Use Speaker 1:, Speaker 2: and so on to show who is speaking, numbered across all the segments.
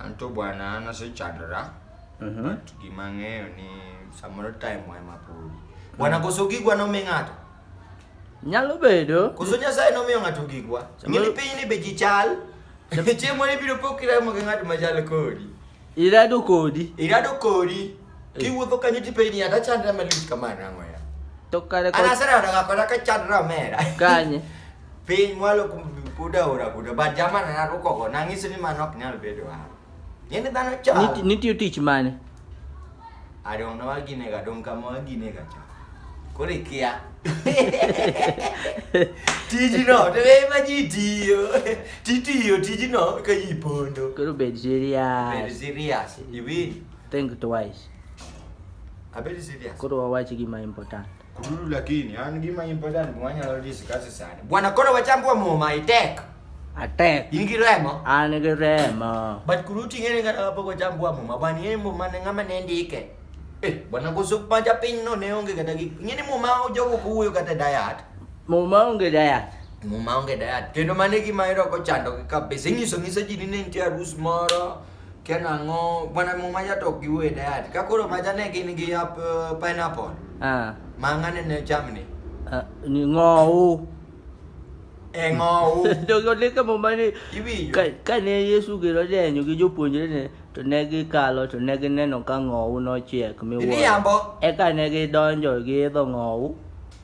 Speaker 1: Anto bwana an asechandora. Mhm. But gima ang'eyo ni samoro time wa ema podi. Bwana koso gigwa nomi ng'ato. Nyalo bedo. Koso Nyasaye nomiyo ng'ato gigwa. Samoro- Ng'eni piny ni be ji chal. Chieng' moro ibiro po kiramo gi ng'at machal kodi. Irado kodi. Irado kodi. kiwuotho kanyo tipenji ng'ato achandra malich kama nang'o ya To kare an ko asera odaga kod akachandra omera kanye. piny mwalo kum- kuda ora kuda but jama na narukogo nang'iso ni mano ok nyal bedo an ng'eni dhano Niti- chal Nitiyo tich mane? adong' na waginega dong' kama waginega cha koro ikia tijino to ema ji tiyo titiyo tijino ka ji pondo Koro bed serious. Very serious. Iwin, Think twice. Abeli serious. Koro wawachi gima important. Kululu lakini yani gima important mwanya lo discuss sana. Bwana kora wachambua mo my tech. Atek. In gi remo? An gi remo. But kuruti ngene ngata hapo kwa chambua mo mabani yembo mane ngama ne ndike. Eh, bwana gozo panja piny no ne onge kata gi. Ngene mo ma ojogo kuyo kata diet. Mo ma onge diet. Mo ma onge diet. Kendo mane gima ero ko chando kabisa. Inyiso ngisa ji ni ne nitie arus moro. Kia nang'o, bwana muma ya tok giwe dad. Ka koro maja ne gin gi ap, uh, pineapple. Ah. Ma ng'ane ne chamni. Ah, ni ng'owu. E ng'owu. Jogo lika muma ni Iwinjo? ka- kane Yesu gero denyo gi jopuonjrene to ne gikalo to ne gineno ka ng'owu nochiek miwuoro. Iriambo. Eka ne gidonjo giidho ng'owu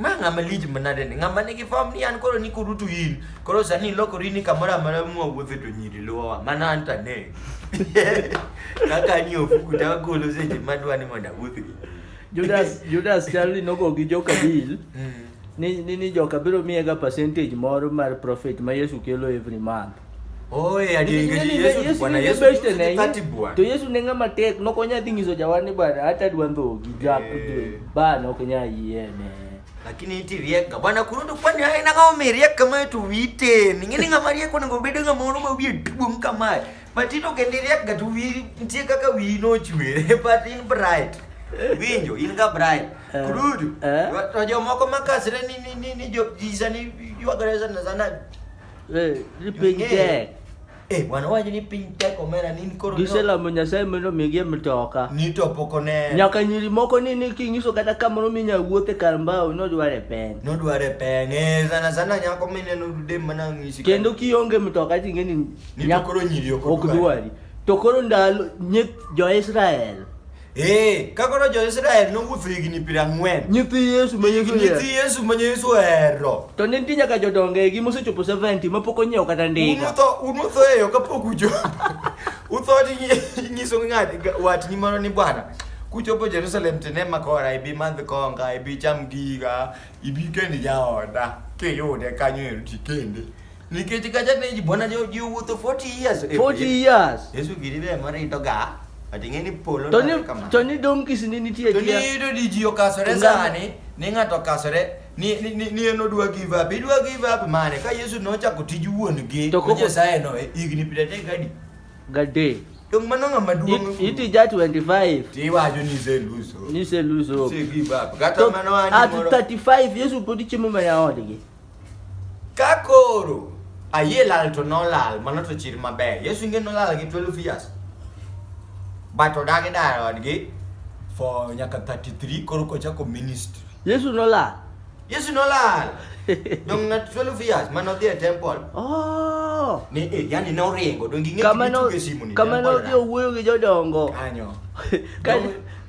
Speaker 1: Ma ng'ama lij manade ni ng'ama nigi form ni an koro ni kurutu in koro sani ilokori ni kamoro amora mwawuothe to nyiri luwowa mana an to ane kaka ni ofuku to agolo seche madwa ni mondo awuothgi Judas Judas chal ni nogo gi joka deal Mm. ni ni, ni joka biro miyega percentage moro mar profit ma Yesu kelo every month. to yesu ne ng'ama tek nokonya dhi nyiso jawani bana hata dwa ndhogi eh. bana ok nya yiene lakini iti rieka bwana kurudu kwani haya na kama merieka kama yetu wite ningine ngama rieka na ngobede ngama ono mawie tubu mkama but ito kende rieka tu wi ntie kaka wi no chwe but in bright winjo in ka bright eh. kurudu eh. to jomoko makasre ni ni ni ni jo jisa ni yuagareza na zanani Eh, ripiny Yo, eh. tek. Eh, bwana wacho ni piny tek omera ni koro ni- Giselamo Nyasaye mondo omigie mtoka. ni to pok one Nyaka nyiri moko ni ni kinyiso kata kamoro minya wuothe kar mbao nodware peng. nodware peng eh, sana sana nyako mineno dude mana ng'isi Kendo kionge mtoka ting'e ni Ni to nyak- koro nyiri ok ok odwari. dwari. To koro ndalo nyith jo-Israel Ee, ka koro jo-Israel nowuotho higni piero ang'wen. Nyithi Yesu ma Yesu Nyithi ohero. Yesu ma Yesu ohero. To ne nitie nyaka jodongo egi mosechopo 70 ma pok onyiewo kata ndiga. Unutho, unutho e yo kapok uchopo. Utho tinyiso ng'at ga- watni moro ni bwana, kuchopo Jerusalem to inema kora, ibi madh konga, ibi cham giga, ibi kend jaoda, kiyude kanyo ero tikende. nikech kacha ne ji bona jo ji wuotho 40 years 40 eh, years yesu giri be mara ito ga ating'e ni polo to ni to ni donkeys ni nitie to ni to di ji okasore sani ni ng'ato okasore ni ni ni ni eno dwa give up idwa give up mane ka yesu nochako tij wuon gi to ko nyasaye no eh, igni pidete gadi gadi Yung mano nga maduong. It, it ja 25. Ti wajo ni se luso. Ni se luso. Se give up. Gata mano ani. At 35 yesu podi chimo ma ya odgi. Ka koro ayie lal to nolal, mano to chir maber. Yesu ing'e nolal gi 12 years. But odagi dar odgi for nyaka 33 koro kochako ministry. Yesu nolal. Yesu nolal. Dong na 12 years mano dhi e temple. Oh. Ni eh, yani ne oringo dong ing'e Kama no- kitugo e simu ni. kama temple nodhi na. owuoyo gi jodongo Kanyo. Ka- Dong-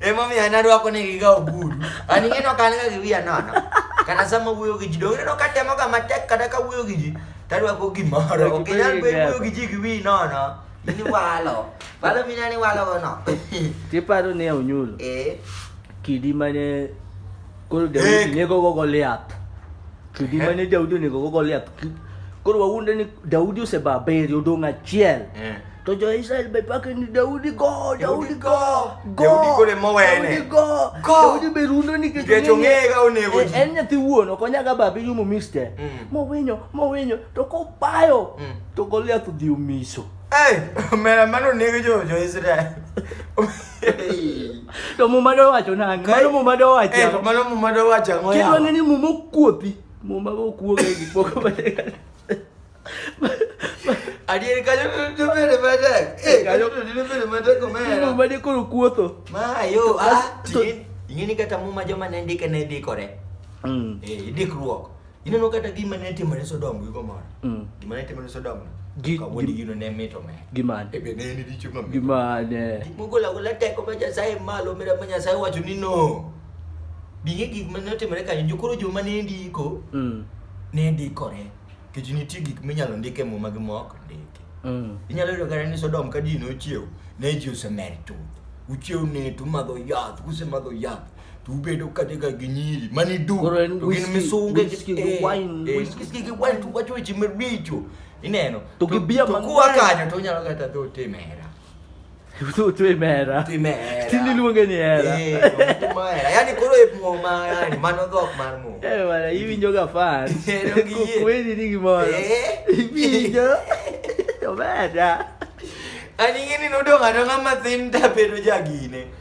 Speaker 1: emomiyo an arwako negiga ogudu an ing'eno ka an ga gi wiya nono kana sama wuoyo gi ji donge ineno ka temoga matek kata ka wuoyo gi ji tarwako gimoro ok inyal be wuoyo gi ji gi wiyi nono in iwalo walo mina ni walogo no tiparo ni e onyulo eh kidi mane koro daudi ne gogo goliath kidi eh. mane daudi onego go goliath koro wawuonde ni daudi oseba abiriyo odong' achiel eh. to jo-israel be pake ni daudi go daudi go godaudi go daudi be rundo nikech ong'ega onego eh, en nyathi wuon ok onyaga babe yumo miste mm. mowinyo mowinyo to kobayo mm. to goliath odhi omiso mera mano nego jo-israel to muma dowacho nang'o mano muma dowacho eh, to mano muma dowacho ang'o kendo ang'e ni muma okuopi muma okuoga e gik moko adier kanyo to bere matek eh kanyo to dine bere matek omera muma de koro kuotho ma yo ah ing'e ni kata muma joma ne ndike ne dikore mm. eh idikruok Ineno kata gima ne timore Sodom gi Gomora. Mm. Gima ne timore Sodom. Gi- Kawuono gi- gino ne mito me. Gimane? Ebe ne en richo ma mito. Gimane? Gik mogolo agola teko ma Nyasaye malo mira ma Nyasaye wacho ni no. Binge gik ma ne otimore kanyo jokoro joma ne ndiko Mm. ne ndikore. Kech nitie gik minyalo ndik e muma gi mok ndiki. Mm. Inyalo yudo kata ni Sodom ka ji nochiew, ne ji osemer chuth. Uchiew net, umadho yath, usemadho yath. to ubedo kate ka gi nyiri mani du Koro en to gin whisky- misunge whisky gi eh, wine, eh, whisky. whisky gi wine to wacho weche maricho ineno To gi beer kuwa mang'eny. kanyo to unyalo kata dho timera Tu tu e mera. timera Ti niluonge ni hera. Eh, to timera. yani koro e muma yani mano dhok mar muma Eh wala iwinjo ga fan. Ero gi yie. Kweli ni gimoro. Eh. Iwinjo. Omera. ani ing'e ni nodong' adong'a mathin tabedo jagine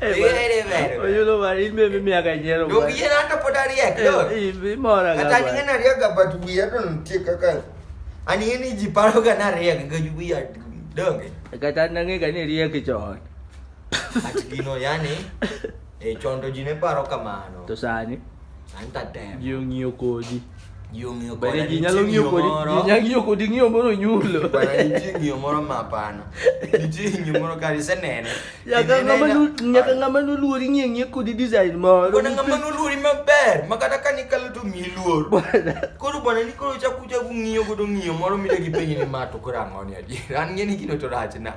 Speaker 1: Oyo no mari me me me aga nyero. Yo gi na to podari ek do. I bi mora ga. Kata ni na riya ga batu bi ya don ti kaka. Ani ni ji paro ga na riya ga ju bi ya donge. Kata na nge ga ni riya ki chon. Ati gino yani e chondo ji ne paro kamano. To sani. Anta dem. Yo ng'iyo kodi. Yo ng'iyo kodi. Bende ji nyalo ng'iyo kodi. Ji nyalo ng'iyo kodi ng'iyo moro nyulo. Bwana nitie ng'iyo moro ma hapana. Nitie ng'iyo moro kare isenene. Nyaka ng'ama nu nyaka ng'ama nu luori ng'iyo ng'iyo kodi design moro. Bwana ng'ama nu luori maber ma kata ka nikalo to mi luor. Koro bwana ni koro chaku chaku ng'iyo godo ng'iyo moro midegi penye ni ma to koro ang'o ni adier. An ng'e ni gino to rach na.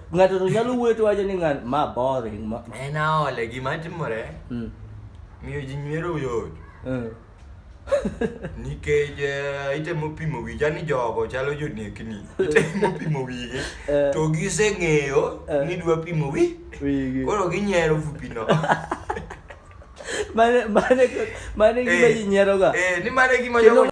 Speaker 1: ng'ato to nyalo wuoyo to wacho ni ng'at ma boring ma en aole gima timore Mm, miyo ji nywero yot mm. nikech eh, itemo pimo wija ni jogo chalo jonekni itemo pimo wigi Eh. to giseng'eyo Eh. ni dwa pimo wi Wigi. koro ginyiero fupino Mane- mane- mane gima ji nyieroga Eh, ni mane gima Kendo jogo